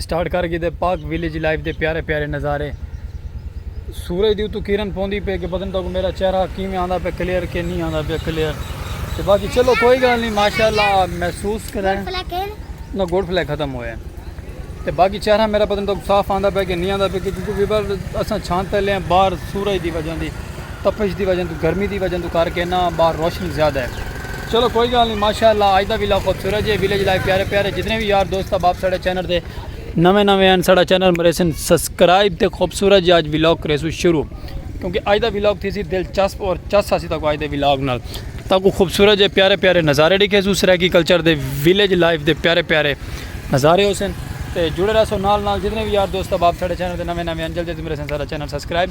Start کر گھیدے پاک ویلیج لائف دے پیارے پیارے نظارے سورج دی اتو کرن پوندی پے کہ پتن تو میرا چہرہ کیویں آندا پے کلیئر کہ نہیں آندا پے کلیئر تے باقی چلو کوئی گل نہیں ماشاءاللہ محسوس کریں نہ گوڈ فلے ختم ہوئے تے باقی چہرہ میرا پتن تو صاف آندا پے کہ نہیں آندا پے کیونکہ ویور اساں چھان تے لے باہر سورج دی وجہ دی تپش دی وجہ توں گرمی دی وجہ توں کر کے نا باہر روشنی زیادہ ہے چلو کوئی گال نہیں ماشاءاللہ اج دا ویلا خوبصورت جے ویلج لائف پیارے پیارے جتنے بھی یار دوست احباب ساڈے چینل دے نویں نویں ہیں ساڈا چینل مریسن سبسکرائب تے خوبصورت جے اج ولاگ کریسو شروع کیونکہ اج دا ولاگ تھیسی دلچسپ اور چس اسی تاکو اج دے ولاگ نال تاکو خوبصورت جے پیارے پیارے نظارے ڈکھیسو سرائیکی کلچر دے ویلج لائف دے پیارے پیارے نظارے ہوسن تے جڑے رہسو نال نال جتنے بھی یار دوست احباب ساڈے چینل دے نویں نویں ہیں جلدی جلدی مریسن ساڈا چینل سبسکرائب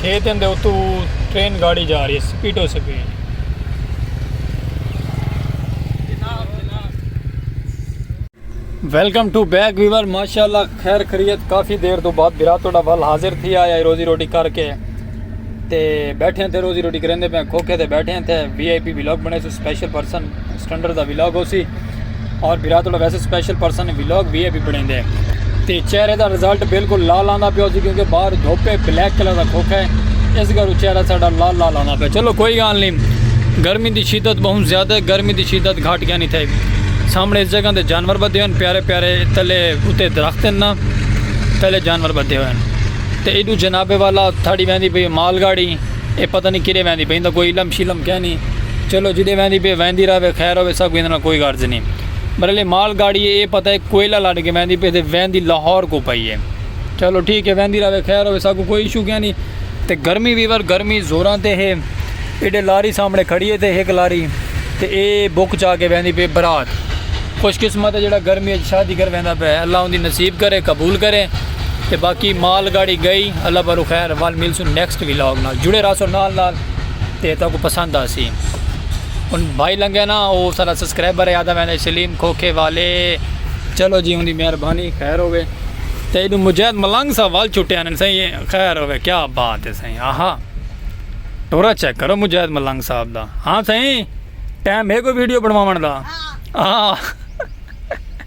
کھیتیں دے اتو ٹرین گاڑی جا رہی ہے سپیٹو speed. Welcome to back viewer ماشاءاللہ خیر خریت کافی دیر تو بعد برا توڑا ول حاضر تھی آیا روزی روٹی کر کے تے بیٹھے تھے روزی روٹی کریں دے پہ کھوکھے تے بیٹھے تھے وی آئی پی بلاک بنے سو سپیشل پرسن سٹنڈر دا ویلاگ ہو سی اور برا تو ویسے سپیشل پرسن نے ویلاگ بھی ہے بھی بڑھیں دے تے چہرے دا رزلٹ بالکل لال آندا پیا سی کیونکہ باہر دھوپے بلیک کلر دا کھوکھا ہے اس گھر چہرہ ساڈا لال لال آندا پیا چلو کوئی گال نہیں گرمی دی شدت بہت زیادہ ہے گرمی دی شدت گھٹ گیا نہیں تھے سامنے اس جگہ دے جانور بدے ہوئے پیارے پیارے تلے اتے درخت ہیں نا تلے جانور بدے ہوئے تے ایڈو جناب والا تھاڑی ویندی بھی مال گاڑی اے پتہ نی کیڈے ویندی پئی ایندا کوئی علم شلم کینی چلو جڈے ویندی پئی ویندی راوے خیر ہووے ساکوں ایندے نال کوئی غرض نی برل اے مال گاڑی اے اے پتہ اے کوئلہ لڈ کے ویندی پئی تے ویندی لاہور کوں پئی اے چلو ٹھیک اے ویندی راوے خیر ہووے ساکوں کوئی ایشو کینی تے گرمی ویور گرمی زوراں تے ہے ایڈے لاری سامنے کھڑی اے تے ہک لاری تے اے بک چا کے ویندی پئی برات خوش قسمت اے جیڑا گرمی اچ شادی کر ویندا پئے اللہ اوندی نصیب کرے قبول کرے۔ تے باقی مال گاڑی گئی اللہ بارو خیر وال مل سن نیکسٹ ویلاگ نال جڑے رہا سو نال نال تے تو کو پسند آ سی ان بھائی لنگے نا او سارا سبسکرائبر ہے آدھا میں نے سلیم کھوکھے والے چلو جی ان دی مہربانی خیر ہوے تے ایڈو مجاہد ملنگ سا وال چھٹے آنے سہی خیر ہوے کیا بات ہے سہی آہا ٹورا چیک کرو مجاہد ملنگ صاحب دا ہاں سہی ٹائم ہے کوئی ویڈیو بنواون دا ہاں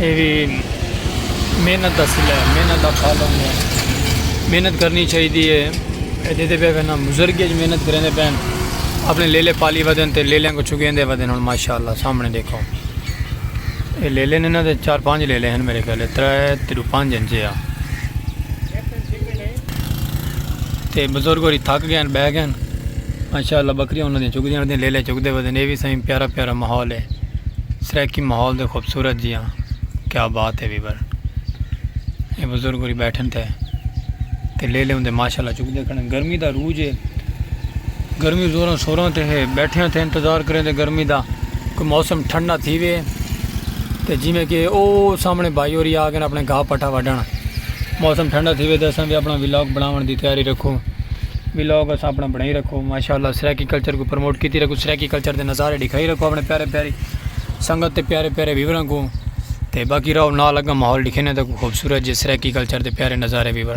اے وی محنت دا صلہ ہے محنت دا پھل ہوندا ہے محنت کرنی چاہی دی ہے اے دیدے پہ وینا مزرگی اچ محنت کریں دے پین اپنے لیلے پالی ودن تے لیلے کو چگین دے ودن ہن ماشاءاللہ سامنے دیکھو اے لیلے نے نا دے چار پانچ لیلے ہیں میرے خیال ہے ترے تیرو پانچ انجے ہیں تے بزرگ ہوری تھک گئے ہیں بہ گئے ہیں ماشاءاللہ بکریاں انہاں دی چگ دیاں ردیاں لیلے چگ دے ودن اے وی سائیں پیارا پیارا ماحول ہے سرائیکی ماحول دے خوبصورت جیاں کیا بات ہے ویور اے بزرگ ہوری بیٹھن تے تے لیلے ہوندے ماشاءاللہ چگ دے کھڑے گرمی دا روج ہے گرمی زوراں سوراں تے ہے بیٹھیاں تے انتظار کریں دے گرمی دا کوئی موسم ٹھنڈا تھی وے تے جیویں کہ او سامنے بھائی ہوری آ گئن اپنے گھا پٹھا وڈن موسم ٹھنڈا تھیوے تے اساں وی اپنا ولاگ بناون دی تیاری رکھو ولاگ اساں اپنا بنائی رکھو ماشاءاللہ سرائیکی کلچر کو پروموٹ کیتی رکھو سرائیکی کلچر دے نظارے دکھائی رکھو اپنے پیارے پیاری سنگت تے پیارے پیارے ویوراں کو تے باقی راو نال لگا ماحول دکھینے تے خوبصورت جے سرائیکی کلچر دے پیارے نظارے ویور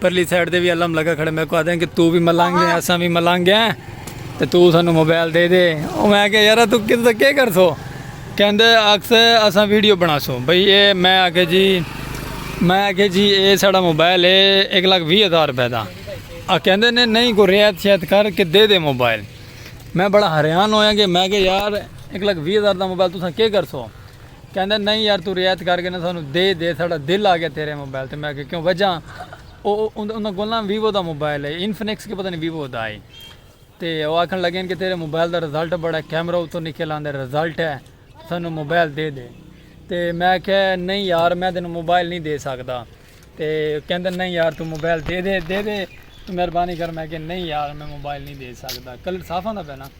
پرلی سائیڈ دے وی علم لگا کھڑے میں کو آدھے ہیں کہ تو بھی ملنگ ہیں اساں بھی ملنگ ہیں تے تو سانو موبائل دے دے او میں کہ یارا تو کس دا کیا کر سو کہندے اکس اساں ویڈیو بنا سو بھئی اے میں آکھے جی میں آکھے جی اے ساڑا موبائل اے ایک لاکھ وی ہزار روپے دا آ کہندے نے نہیں کو ریات شیات کر کے دے دے موبائل میں بڑا حریان ہویا کہ میں کہ یار ایک لاکھ وی ہزار دا موبائل تو ساں کیا کر سو کہندا نئیں یار توں رعایت کر گھنا سانوں دے دے ساڈا دل آ گیا تیرے موبائل تے میں آکھیا کیوں وجہ او انہاں کول نا ویوو دا موبائل ہے انفنکس کے پتہ نئیں ویوو دا ہے تے او آکھن لگے ہن کہ تیرے موبائل دا رزلٹ بڑا کیمرہ اتوں نکل آندے رزلٹ ہے سانوں موبائل دے دے تے میں آکھیا نئیں یار میں تینوں موبائل نئیں دے سکدا تے کہندا نئیں یار توں موبائل دے دے دے دے توں مہربانی کر میں آکھیا نئیں یار میں موبائل نئیں دے سکدا کلر صاف آندا پیا نا۔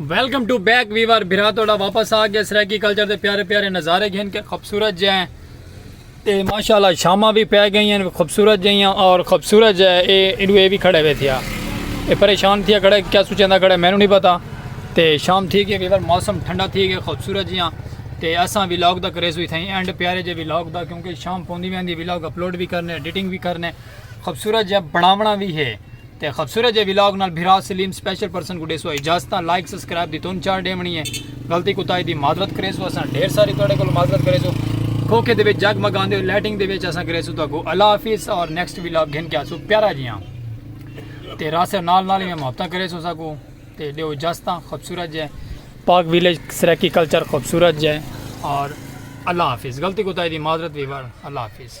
ویلکم ٹو بیک ویور بھرا توڑا واپس آ گیا سرائیکی کلچر دے پیارے پیارے نظارے گھن کے خوبصورت جے ہیں تے ماشاءاللہ شامہ بھی پہ گئی ہیں خوبصورت جے ہیں اور خوبصورت جے ہیں اے انو اے بھی کھڑے ہوئے تھیا اے پریشان تھیا کھڑے کیا سوچیں دا کھڑے میں نو نہیں پتا تے شام تھی گئے ویور موسم ٹھنڈا تھی گئے خوبصورت جے ہیں تے اساں ویلاگ دا کریز ہوئی تھیں اینڈ پیارے جے ویلاگ دا کیونکہ شام پوندی میں اندھی ویلاگ اپلوڈ بھی کرنے ایڈیٹنگ بھی کرنے خوبصورت جے بناونا بھی ہے تے خبصورت جے ولاگ نال بھرا سلیم سپیشل پرسن کو ڈیسو اجازتاں لائک سبسکرائب دی تون چار ڈیونی ہے غلطی کوتاہی دی معذرت کریسو اساں ڈھیر ساری تواڈے کول معذرت کریسو کھوکھے دے وچ جگ مگاندے ہوئے لائٹنگ دے وچ اساں کریسو تو کو اللہ حافظ اور نیکسٹ ولاگ گھن کے آسو پیارا جیاں تے راسے نال نال ہی محبتاں کریسو سا کو تے ڈیو اجازتاں خبصورت جے پاک ویلیج سرکی کلچر خوبصورت جے اور اللہ حافظ غلطی کوتاہی دی معذرت ویور اللہ حافظ